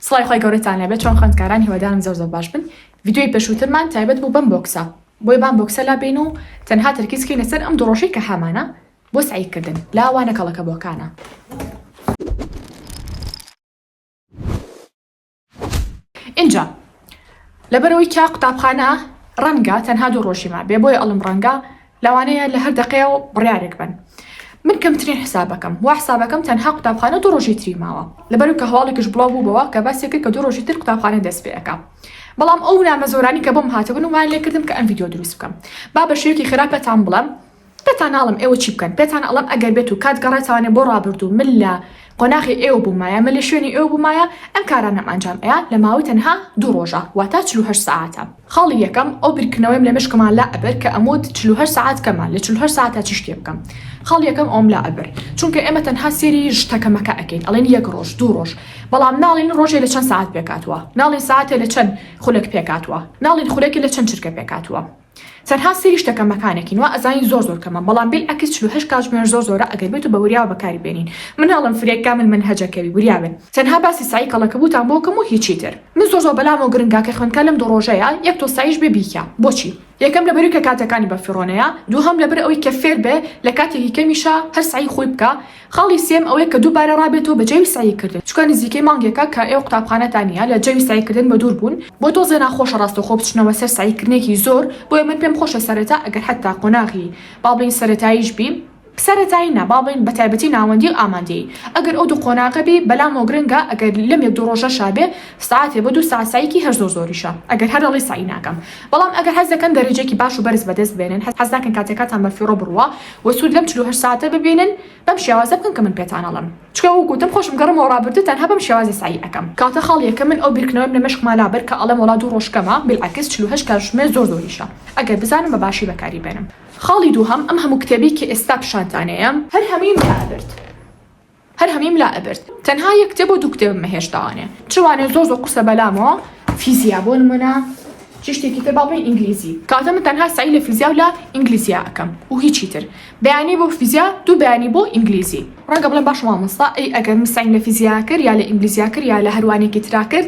سڵاوی خوای گەورەتان لێبێت چۆن خوێندکاران هیوادارم زۆر زۆر باش بن ڤیدیۆی پێشووترمان تایبەت بوو بەم بۆکسە بۆیە بام بۆکسە لابەین و تەنها تەرکیز کەینە سەر ئەم دوو ڕۆژەی کە هەمانە بۆ سەعی کردن لا وانە کەڵەکەبۆکانە. ئینجا لەبەرئەوەی کە قوتابخانە ڕەنگە تەنها دوو ڕۆژی مابێ بۆیە ئەڵێم ڕەنگە. لەوانەیە لە هەر دەقەیەوە بڕیارێک بەن. من کەمترین حسابەکەم وا حسابەکەم تەنها قوتابخانە دوو ڕۆژی تری ماوە لەبەرو کە هەواڵێکش بڵاو بووبەوە کە باسی کرد کە دوو ڕۆژی تر قوتابخانە دەست پێ ئەکا بەڵام ئەو نامە زۆرانی کە بۆم هاتبوون وایان لێ کردم کە ئەم ڤیدیۆ دروست بکەم با بە شێوەیەکی خێرا پێتان بڵێم پێتان ناڵم ئێوە چی بکەن پێتان ئەڵێم ئەگەر بێت و کات گەڕێتانێ بۆ ڕابردوو من لە قۆناغی ئێوە بوومایە من لە شوێنی ئێوە بوومایە ئەم کارانەم ئەنجام ئەیا لە ماوەی تەنها دوو ڕۆژە واتە چل و هەشت سەعاتە. خاڵی یەکەم ئەو بیرکردنەوەیم لە مێشکما لا ئەبرد کە ئەموت چل و هەشت سەعات کەمە لە چل و هەشت سەعاتا چی شتێ بکەم خاڵی یەکەم ئەوم لا ئەبرد چونکە ئێمە تەنها سێری شتە کەمەکە ئەکەین ئەڵێن یەک ڕۆژ دوو ڕۆژ بەڵام ناڵێن ڕۆژێ لە چەند سەعات پێکهاتووە ناڵێن سەعاتێ لە چەند خولەک پێکهاتووە ناڵێن خولەکێ لە چەند چرکە پێکهاتووە تەنها سەیری شتەکە مەکانەکین وا ئەزانین زۆر زۆر کەمە بەڵام بیل ئەکس چل و هەشت کاتژمێر زۆر زۆرە ئەگەر بێت و بە وریاوە بەکاری بێنین من ئەڵێم فرێ کامل مەنهەجەکەوی وریا بن تەنها باسی سەعی کەڵەکەبوتان بۆ کەم و هیچی تر من زۆر زۆر بەلامەوە گرنگە کە خوێندکار لەم دوو ڕۆژەیا یەک تۆ سەعیش بێ بیکا بۆچی یەکەم لەبەروی کە کاتەکانی بە فیڕۆنەیە دووهەم لەبەر ئەوەی کە فێر بێ لە کاتێکی کەمیشا هەر سەعی خۆی بکا خاڵی سێم ئەوەیە کە دووبارە ڕابێتەوە بە جەوی سەعی کردن چونکە نزیکەی مانگێکە کە ئێوە قوتابخانەتان نیە لە جەوی سەعی کردن بە دوور بوون بۆ تۆزێ ناخۆشە ڕاستەوخۆ بچنەوە سەر سەعی کردنێکی زۆر بۆیە من پێم خۆشە سەرەتا ئەگەر حەتا قۆناغی با بڵێین سەرەتاییش بی سەرەتایی نا با بڵێین بە تایبەتی ناوەندی و ئامادەیی ئەگەر ئەو دوو قۆناغە بی بەلامەوە گرنگە ئەگەر لەم یەک دوو ڕۆژەشا بێ سەعاتێ بۆ دوو سەعات سەعیکی هەر زۆر زۆریشە ئەگەر هەر دەڵێی سەعی ناکەم بەڵام ئەگەر حەز دەکەن دەرەجەیەکی باش و بەرز بەدەست بێنن حەز ناکەن کاتەکاتان بە فیڕۆ بڕوا و سود لەم چل و هەشت ساتە ببینن بەم شێوازە بکەن کە من پێتان ئەڵێم چکە وەک وتم خۆشم گەڕمەوە ڕابردو تەنها بەم شێوازە سەعی ئەکەم. کاکە خاڵ یەکەم من ئەو بیرکردنەوەم لە مێشکما لابەر کە ئەڵێم وەڵا دوو ڕۆژ کەمە بیلعەکس چل و هەشت کاتژمێر زۆر زۆریشە ئەگەر بزانم بە باشی بەکاری بێنم. خاڵی دووهەم ئەم هەموو کتێبی کە ئێستا پیشانتانەیەم. هەر هەموویم لابرد. هەر هەمیم لا ئەبرد تەنها یەک کتێب و دوو کتێبم نەهێشتاوانێ چ وانێ زۆر زۆر قورسە بەلامەوە فیزیا بۆ نمونە چ شتێکی تر با بڵێین ئینگلیزی کاتە من تەنها سەعی لە فیزیا و لە ئینگلیزیا ئەکەم و هیچی تر بەیانی بۆ فیزیا دوو بەیانی بۆ ئینگلیزی ڕەنگە بڵێم باشە مامۆستا ئەی ئەگەر من سەعیم لە فیزیا کرد یا لە ئینگلیزیا کرد یا لە هەر وانێکی ترا کرد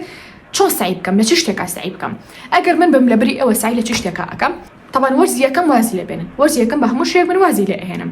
چۆن سەعی بکەم لە چ شتێکا سەعی بکەم ئەگەر من بم لە بری ئەوە سەعی لە چ شتێکا ئەکەم طبعا وەرزی یەکەم وازی لێ بێنن وەرزی یەکەم بە هەموو شێک من وازی لێ ئەهێنم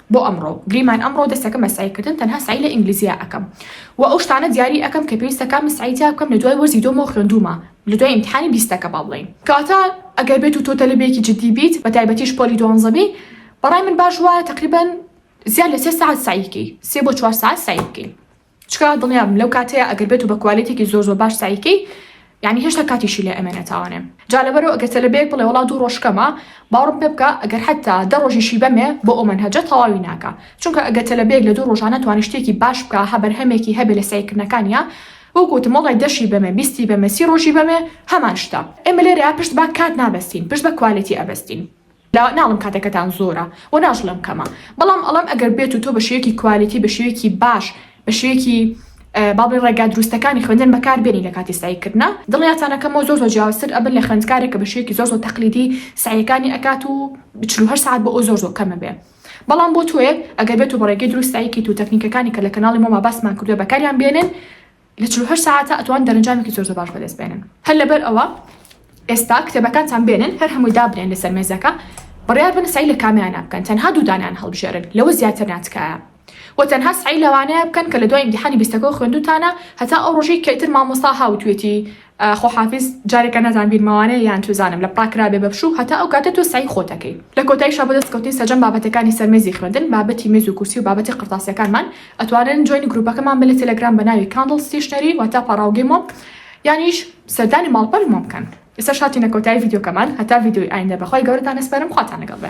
بۆ ئەمڕۆ گریمان ئەمڕۆ دەستەکەم بە سەعی کردن تەنها سەعی لە ئینگلیزیە ئەکەم و ئەو شتانە دیاری ئەکەم کە پێویستە کامە سەعی تیا بکەم لە دوای وەرزی دۆمەوە خوێندومە لە دوای ئیمتحانی بیستەکە با بڵێین کەواتە ئەگەر بێت و تۆ تەلەبێکی جدی بیت بە تایبەتیش پۆلی دوانزە بی بەڕای من باش وایە تقریبا زیاد لە سێ سەعات سەعی بکەی سێ بۆ چوار سەعات سەعی بکەی چکا دڵنیابم لەو کاتەیە ئەگەر بێتو بە کوالێتێکی زۆر زۆر باش سەعی کەی یانی هێشتا کاتیشی لێ ئەمێنێ تاوانێ جا لەبەرو ئەگەر تەلەبەیەک بڵێ وەڵا دوو ڕۆژ کەمە باوڕم پێ بکە ئەگەر حەتا دە ڕۆژیشی بەمێ بۆ ئەو مەنهەجە تەواوی ناکا چونکە ئەگەر تەلەبەیەک لە دوو ڕۆژا نەتوانێ شتێکی باش بکا هە بەرهەمێکی هەبێ لە سەعیکردنەکانیا وەکو وتم وەڵای دەشی بەمێ بیستی بەمێ سی ڕۆژی بەمێ هەمان شتە ئێمە لێرەیا پشت بە کات نابەستین پشت بە کوالێتی ئەبەستین. لە ناڵم کاتەکەتان زۆرە و ناژڵێم کەمە بەڵام ئەڵێم ئەگەر بێت و تۆ بە شێوەیەکی کوالیتی بە شێوەیەکی باش بە شێوەیەکی با بڵێ ڕێگا دروستەکانی خوێندن بەکار بێنی لە کاتی سەعی کردنا دڵنیاتان ئەکەمەوە زۆر زۆر جیاوازتر ئەبن لە خوێندکارێک کە بە شێوەیەکی زۆر زۆر تەقلیدی سەعیەکانی ئەکات و چل و هەشت سەعات بۆ ئەو زۆر زۆر کەمە بێ بەڵام بۆ تۆیەک ئەگەر بێت و بە ڕێگەی دروست سەعی کەیت و تەکنیکەکانی کە لە کەناڵی مۆما باسمان کردووە بەکاریان بێنن لە چل و هەشت سەعاتدا ئەتوان دەرەنجامێکی زۆر زۆر باش بەدەست بێنن هەر لەبەر ئەوە ئێستا کتێبەکانتان بێنن هەر هەمووی دابنێن لەسەر مێزەکە بڕیار بن سەعی لە کامیانە بکەن تەنها دوو دانەیان هەڵبژێرن لەوە زیاتر نا تکایە و تەنها سەعی لەوانەیە بکەن کە لە دوای ئیمتیحانی بیستەکەوە خوێندووتانە هەتا ئەو ڕۆژەی کە ئیتر مامۆستا هاتووێتی خۆ حافیز جارێکە نازانم بیر ماوانەیە یان چوزانم لە پراگ کرابێ بە پشوو هەتا ئەو کاتە تۆ سەعی خۆت ئەکەی لە کۆتایشا بۆ دەست کەوتنی سەرجەم بابەتەکانی سەر مێزی خوێندن بابەتی مێز و کورسی و بابەتی قرتاسیەکانمان ئەتوانن جۆینی گروپەکەمان بن لە تێلەگرام بە ناوی کاندڵ ستیشنەری واتا پاڕاوگەی مۆم یانیش سەردانی ماڵپەری مۆم بکەن ئێستاش هاتینە کۆتایی ڤیدیۆکەمان هەتا ڤیدیۆی ئایندە بە خوای گەورەتان ئەسپەرم خواتان لەگەڵ بێ.